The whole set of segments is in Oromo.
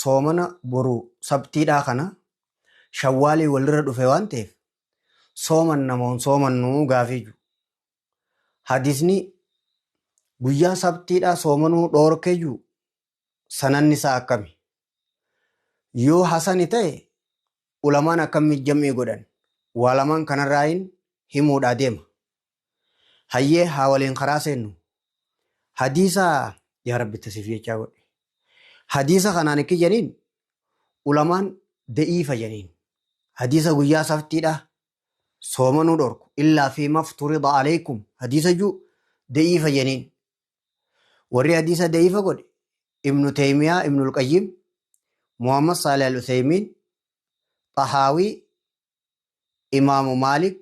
Soomana boru sabtiidhaa kana shawwaalii walirra dhufe waan ta'eef soomanna moo hin soomannu gaafii jiru. Hadiisni guyyaa sabtiidhaa soomanuu dhoorke jiru sananni isaa akkami? Yoo hasani ta'e ulamaan akkamii jam'ii godhan? Waa lamaan kanarraayin himuudhaa deema. Hayyee haa waliin karaa seennu. Hadiisa yaa rabbi tasif jechaa godhi. Hadiisa kanaan ikki janiin ulamaan da'iifa janiin. Hadiisa guyyaa saftiidha soomanuu dhorku illaa fi mafturida alaykum hadiisa juu da'iifa janiin. Warri hadiisa da'iifa godhe Ibnu Taymiyaa, Ibnul Qayyim, Muhammad Saalih Al-Uthaymiin, Xahaawii, Imaamu Maalik,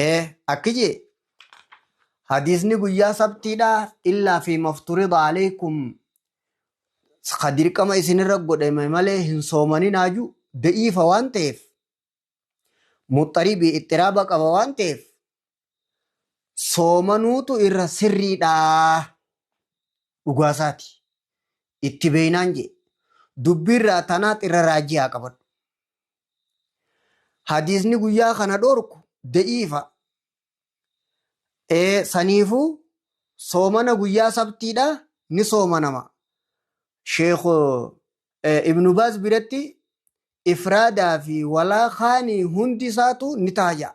ee akki jee hadiisni guyyaa sabtiidha illaa fi mafturida alaykum ka dirqama isinirra godhame malee hin soomaninaa ju da'iifa waan ta'eef muxxaribi ixxiraaba qaba waan ta'eef soomanuutu irra sirriidha dhugaasaati itti beeynaan jee dubbiirraa tanaat irra raajii haa qabadhu hadiisni guyyaa kana dhorku da'iifa ee saniifuu soomana guyyaa sabtiidha ni soomanama sheekh ibnu baaz biratti ifraadaa fi walaa kaanii hundi isaatu ni taha ja'a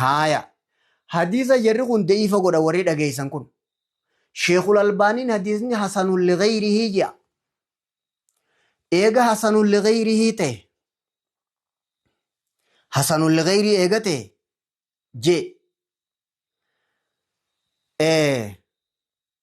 Haaya. Hadiisa jarri kun da'iifa godha warri dhageessan kun. Sheekul Albaaniin hadiisni hasanun liqeeyrihii ji'a. Eega hasanun liqeeyrihii ta'e. Hasanun liqeeyrii eega ta'e jee.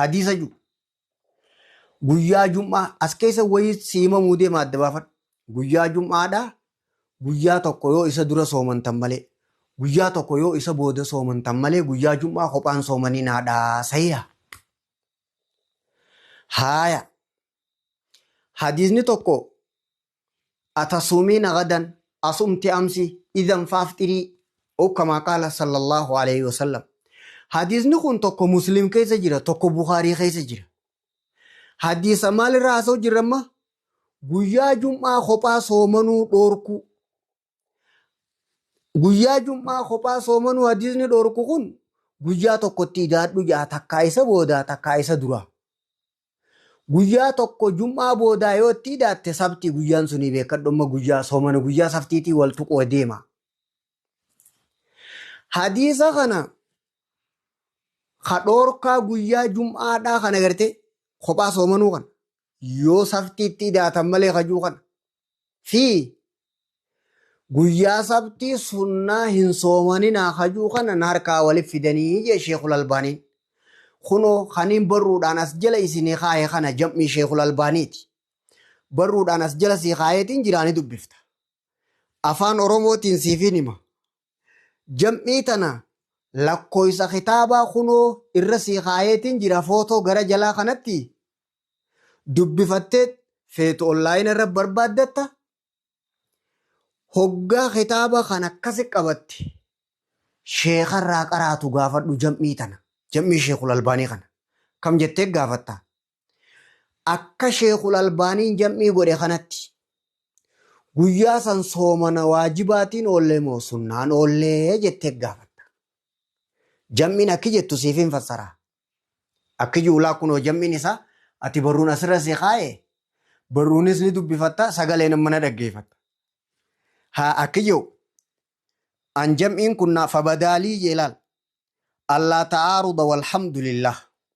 hadiisa jiru guyyaa jum'aa as keessa wayii si himamuu deema adda baafadhu guyyaa jum'aadhaa guyyaa tokko yoo isa dura soomantan malee guyyaa tokko yoo isa booda soomantan malee guyyaa jum'aa kophaan soomaniin haadhaa sahiha haaya hadiisni tokko Atasuumiina gadan, Asumti amsi, idhan faafxirii, Ow kamaa qaala sallallaahu aleyhi wa sallam. Hadiisni kun tokko Muslim keessa jira, tokko Bukhaarii keessa jira. Hadiisa maalirraa haasa'u jirra amma? Guyyaa Jum'aa kophaa soomanuu dhoorkuu. Guyyaa jum'aa kophaa soomanuu hadiisni dhorku kun guyyaa tokkotti idaadhu ja'a takkaa isa boodaa takkaa isa duraa. Guyyaa tokko jum'aa boodaa yoo itti idaatte sabtii guyyaan sunii beekadhumma guyyaa soomana guyyaa saftiitii wal tuquu deema. Hadiisa kana ka dhoorkaa guyyaa jum'aadhaa kana gartee kophaa soomanuu kana yoo saftiitti idaatan malee kajuu kana fi guyyaa sabtii sunnaa hin soomaninaa hajuu kana na harkaa walif fidanii jee sheekul albaaniin kunoo kaniin barruudhaan as jala isinii kaahe kana jam'ii sheekul albaaniiti barruudhaan as jala sii kaaheetiin jiraani dubbifta afaan oromootiin siifiin hima Jam'ii tana lakkooysa kitaabaa kunoo irra sii kaayeetiin jira footoo gara jalaa kanatti dubbifatteet feetu online irra barbaaddatta hoggaa kitaaba kan akkasi qabatte sheeka irraa qaraatu gaafadhu jam'ii tana jam'ii sheekul albaanii kana kam jettee gaafatta Akka Sheekhul Albaaniin jam'ii godhe kanatti guyyaa san soomana waajibaatiin oollee moo sunnaan oollee jettee gaafatta. Jam'iin akki jettu siifin fassara. Akki juulaa kunoo jam'iin isaa ati barruun asirra si kaa'e barruunis ni dubbifatta sagaleen amma na dhaggeeffatta. Haa akki jedhu an jam'iin kun naaf fabadaalii jee laal. Allaa ta'aaruda walhamdulillah.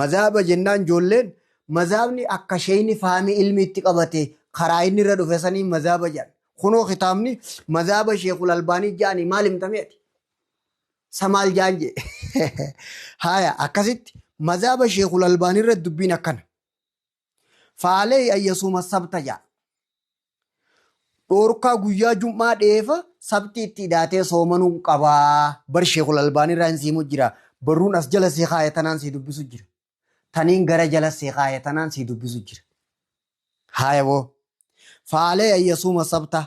Mazhaba jennaan ijoolleen mazhabni akka sheyni faami ilmi itti qabate karaa inni irra dhufe saniin mazhaba jedhan. Kunoo kitaabni mazhaba sheekul albaanii ja'anii maal himtamee ati? Sa maal ja'an jee? Haya akkasitti mazhaba sheekul albaanii irra dubbiin akkana. Faalee ayyasuuma sabta ja'a. Dhoorkaa guyyaa jum'aa dheefa sabti itti idaatee soomanuu qabaa. Bar sheekul albaanii irraa hin siimu jira. Barruun as jala sii kaaya tanaan sii dubbisu jira. Taniin gara jala sii kaaya tanaan sii dubbisu jira. Haaya boo. Faalee ayyasuuma sabta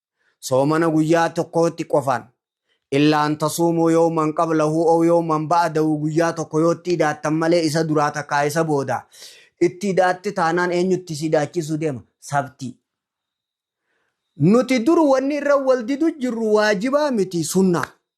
soomana guyyaa tokkootti qofaan illaa an tasuumuu yooman qablahu oo yooman ba'adahu guyyaa tokko yootti idaattan malee isa duraa takkaa isa booda itti idaatti taanaan eenyutti si idaachiisuu deema sabtii nuti dur wanni irra wal didu jirru waajibaa miti sunnaa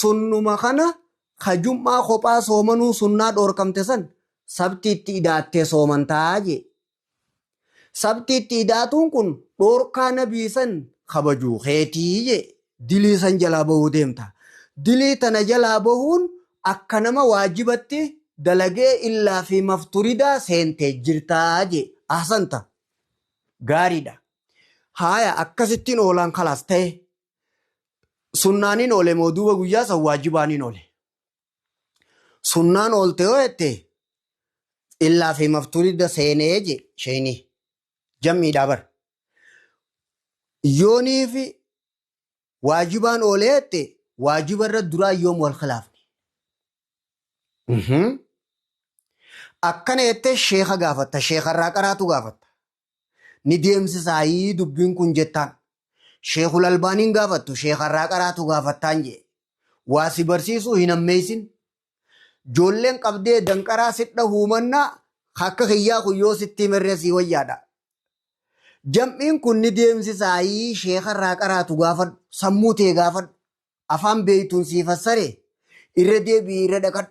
Sunnuma kana ka jum'aa kophaa soomanuu sunnaa dhoorkamte san sabtiitti idaattee soomantaa jee. Sabtiitti idaatuun kun dhoorkaa nabii san kabajuu keetii jee. Dilii san jalaa bahuu deemta. Dilii tana jalaa bahuun akka nama waajibatti dalagee illaa fi mafturidaa seentee jirtaa jee. Ahsanta. Gaariidha. Haaya akkasittiin oolaan kalaas ta'e. Sunnaaniin oole moo duuba guyyaa san waajibaaniin oole. Sunnaan oolte yoo jette illaa fi mafturidda seenee je sheeyni jam'iidhaa bar. Yoonii fi waajibaan oole jette waajiba irra duraa yoom wal khilaafne. Mhm. Akkana jettee sheeka gaafatta sheeka irraa qaraatu gaafatta. Ni deemsisaayii dubbiin kun jettaan. Sheekul Albaaniin gaafattu sheekarraa qaraatu gaafattaan jee. Waa si barsiisuu hin hammeessin. Joolleen qabdee danqaraa sidha huumannaa akka kiyyaa kun yoo sitti himerree sii wayyaadha. Jam'iin kun ni deemsisaayii sheekarraa qaraatu gaafadhu. Sammuu tee gaafadhu. Afaan beeytuun sii fassaree irra deebi'ii irra dhaqadhu.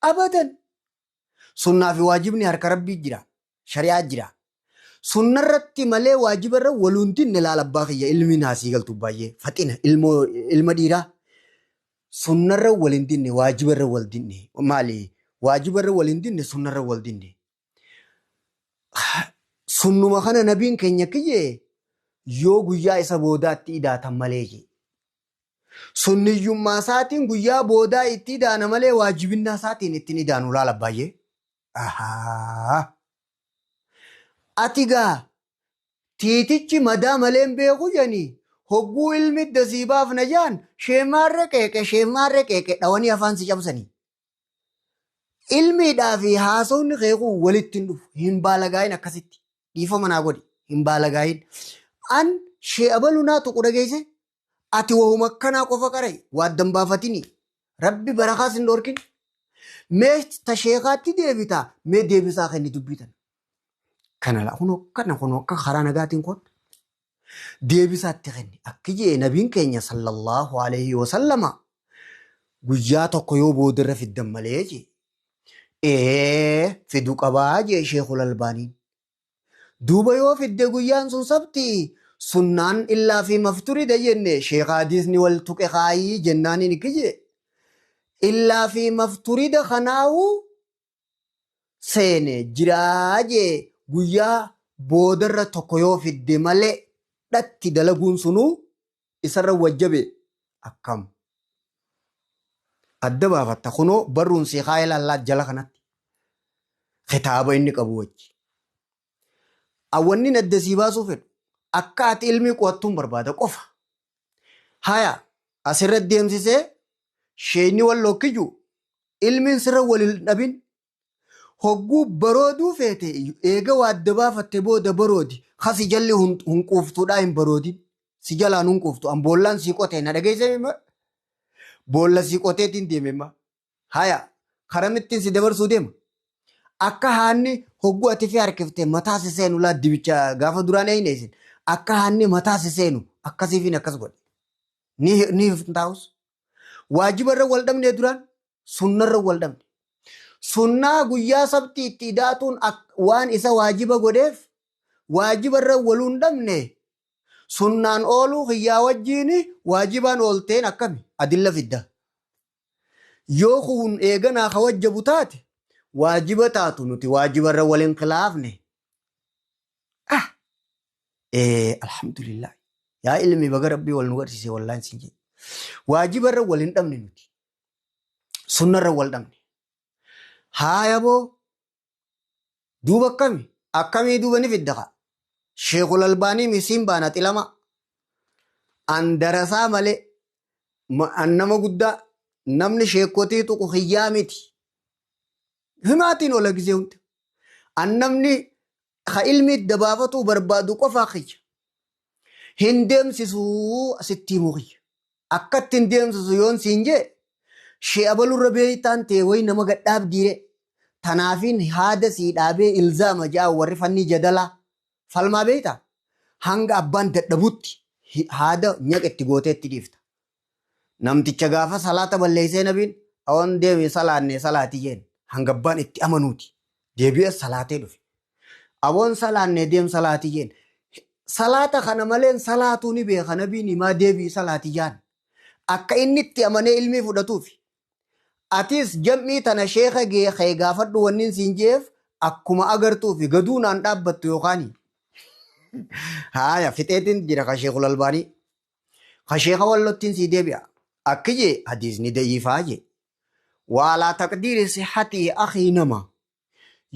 Abadan. Sunnaa fi waajibni harka Rabbii jira. Shari'aa jira. Sunna irratti malee waajiba irra waluuntiin ni laala abbaa kiyya ilmiin haasii galtu baay'ee faxina ilmoo ilma dhiiraa. Sunna irra wal hin dinne waajiba irra wal dinne maali waajiba irra wal hin dinne sunna irra wal dinne. Sunnuma kana nabiin keenya kiyyee yoo guyyaa isa boodaatti idaatan malee jee. Sunniyyummaa isaatiin guyyaa boodaa itti idaana malee waajibinnaa isaatiin itti hin idaanu laal abbaayyee. Ahaa. Ati gaa tiitichi madaa malee hin beeku janii hogguu ilmi idda sii baafna jaan sheemaarre qeeqe sheemaarre qeeqe dhawanii afaan si cabsanii. Ilmiidhaa fi haasofni kee kun walitti hin dhufu hin baalagaayin akkasitti dhiifama naa godhi hin baalagaayin. An shee abaluu naa tuqu dhageesse ati wahuma akkanaa qofa qara'i waaddan baafatini rabbi barakaas hin dhorkin mee ta sheekaatti deebita mee deebisaa kenni dubbii tana kana laa kun akkana kun akka karaa nagaatiin kun deebisaatti kenni akki jee nabiin keenya sallallahu alaihi wasallama guyyaa tokko yoo boodarra fiddan malee jee ee fidu qabaa jee sheekul albaaniin duuba yoo fidde guyyaan sun sabti sunnaan illaa fi mafturidha jenne sheekha hadiisni wal tuqe kaayii jennaan inni kiyye illaa fi mafturida kanaahu seene jiraa jee guyyaa boodarra tokko yoo fidde malee dhatti dalaguun sunuu isarra wajjabe akkam adda baafatta kunoo barruun sii haa ilaallaa jala kanatti kitaaba inni qabu wajji awwannin adda sii baasuu fedhu akka ati ilmii qo'attuun barbaada qofa haya asirra deemsisee sheeyni wal lokkiju ilmiin sirra wal hin dhabin Hogguu barooduu feete iyyu eega waa adda baafatte booda baroodi. Ka si jalli hun- hunquuftuudhaa hin baroodin. Si jalaan hunquuftu. An boollaan sii qote na dhageessee mimma? Boolla sii qoteetiin deeme imma. Haya, karamittiin si dabarsuu deema. Akka haanni hogguu ati fi harkifte mataa si seenu laa dibicha gaafa duraan eeyne isin. Akka haanni mataa si seenu akkasiifiin akkas godhe. Ni ni hifntaa'us. waajibarra wal dhabnee duraan sunnarra wal dhabne sunnaa guyyaa sabtii itti idaatuun ak- waan isa waajiba godheef waajibarra waluun dhabne sunnaan ooluu kiyyaa wajjiin waajibaan oolteen akkami adilla fidda yoo kun eeganaa ka wajjabu taate waajiba taatu nuti waajibarra wal hin khilaafne Ah! Ee, alhamdulillah. Yaa ilmi baga rabbii wal nu garsiise wallaan siin jedhe. Waajiba irra wal hin dhabne nuti. Sunna irra wal dhabne. Haaya boo duuba akkami? Akkamii duuba ni fidda kaa? Sheekul Albaanii misiin baana xilama. An darasaa malee ma- an nama guddaa namni sheekotii tuqu hiyyaa miti. Himaatiin oola gizee hunda. An namni ka ilmii dabaafatuu barbaadu qofaa kiyya. Hin deemsisuu sitti himuu kiyya. Akkatti hin deemsisu yoon siin jee shee abalurra beeytaan tee way nama gad dhaabdiiree. Tanaafiin haada sii dhaabee ilzaama ja'aa warri fannii jadalaa falmaa beeytaa? Hanga abbaan dadhabutti haada nyaqa itti gootee itti dhiifta. Namticha gaafa salaata balleessee nabiin oon deemi salaanne salaati jeen hanga abbaan itti amanuuti deebi'ee salaatee dhufe. Aboon salaanne deem salaati jeen salaata kana maleen salaatuu ni beeka nabiin himaa deebi'i salaati jaan akka inni itti amanee ilmii fudhatuufi. Atiis jam'ii tana sheeka kee gaafadhu wannin siin je'eef akkuma agartuufi gaduu naan dhaabbattu yookaani. Haaya fixeetiin jira kan sheekul albaanii. Ka sheekha wallottiin sii deebi'a. Akki jee hadiisni da'iifaa jee. Wa alaa taqdiiri sihhatihi akhii nama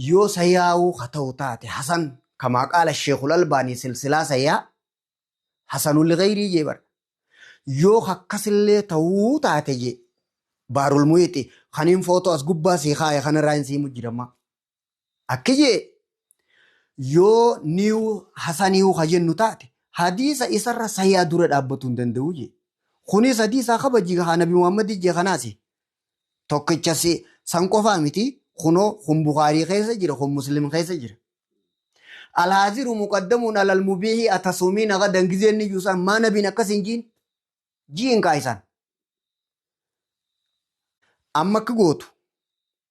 yoo sahihaahuu ka ta'u taate hasan kamaa qaala sheekhul albaanii silsilaa sahihaa hasanun lighayrii jee bar. Yoo ka akkasillee ta'uu taate jee baarul muhiixi kaniin footoo as gubbaa sii kaaye kanarraa hin sii mujjiramaa. Akki je'e, Yoo new hasaniyu ka jennu taate, hadiisa isarra sahiha dura dhaabbatuu hin danda'u je'e. Kunis hadiisa kabaji ka nabi Muhammadi je'e kanaasi. Tokkicha si san qofaa miti, kunoo kun Bukhaarii keessa jira, kun Muslim keessa jira. Alhaaziru muqaddamun alal mubiihi atasuumiina gadan gizee inni ji'u san maa nabiin akkas hin ji'in? Ji'in kaa isaan. Amma akki gootu,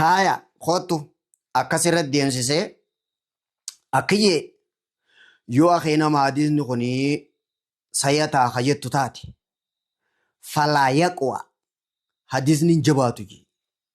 Haaya kottu akkas irra deemsisee akkiyyee yoo akee nama hadiisni kun sayataa ka jettu taate falaa yaqwa hadiisni hin jabaatu jee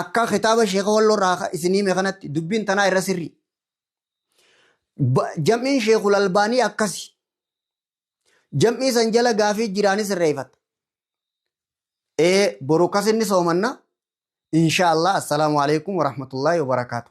Akka kitaaba sheeka walloo irraa isin hime kanatti dubbiin tanaa irra sirrii. Jam'iin sheekul albaanii akkasi. Jam'ii san jala gaafii jiraani sirreeffatta. Ee boru akkas inni soomanna. Inshaa Allah assalaamu alaikum warahmatullahi wabarakaatu.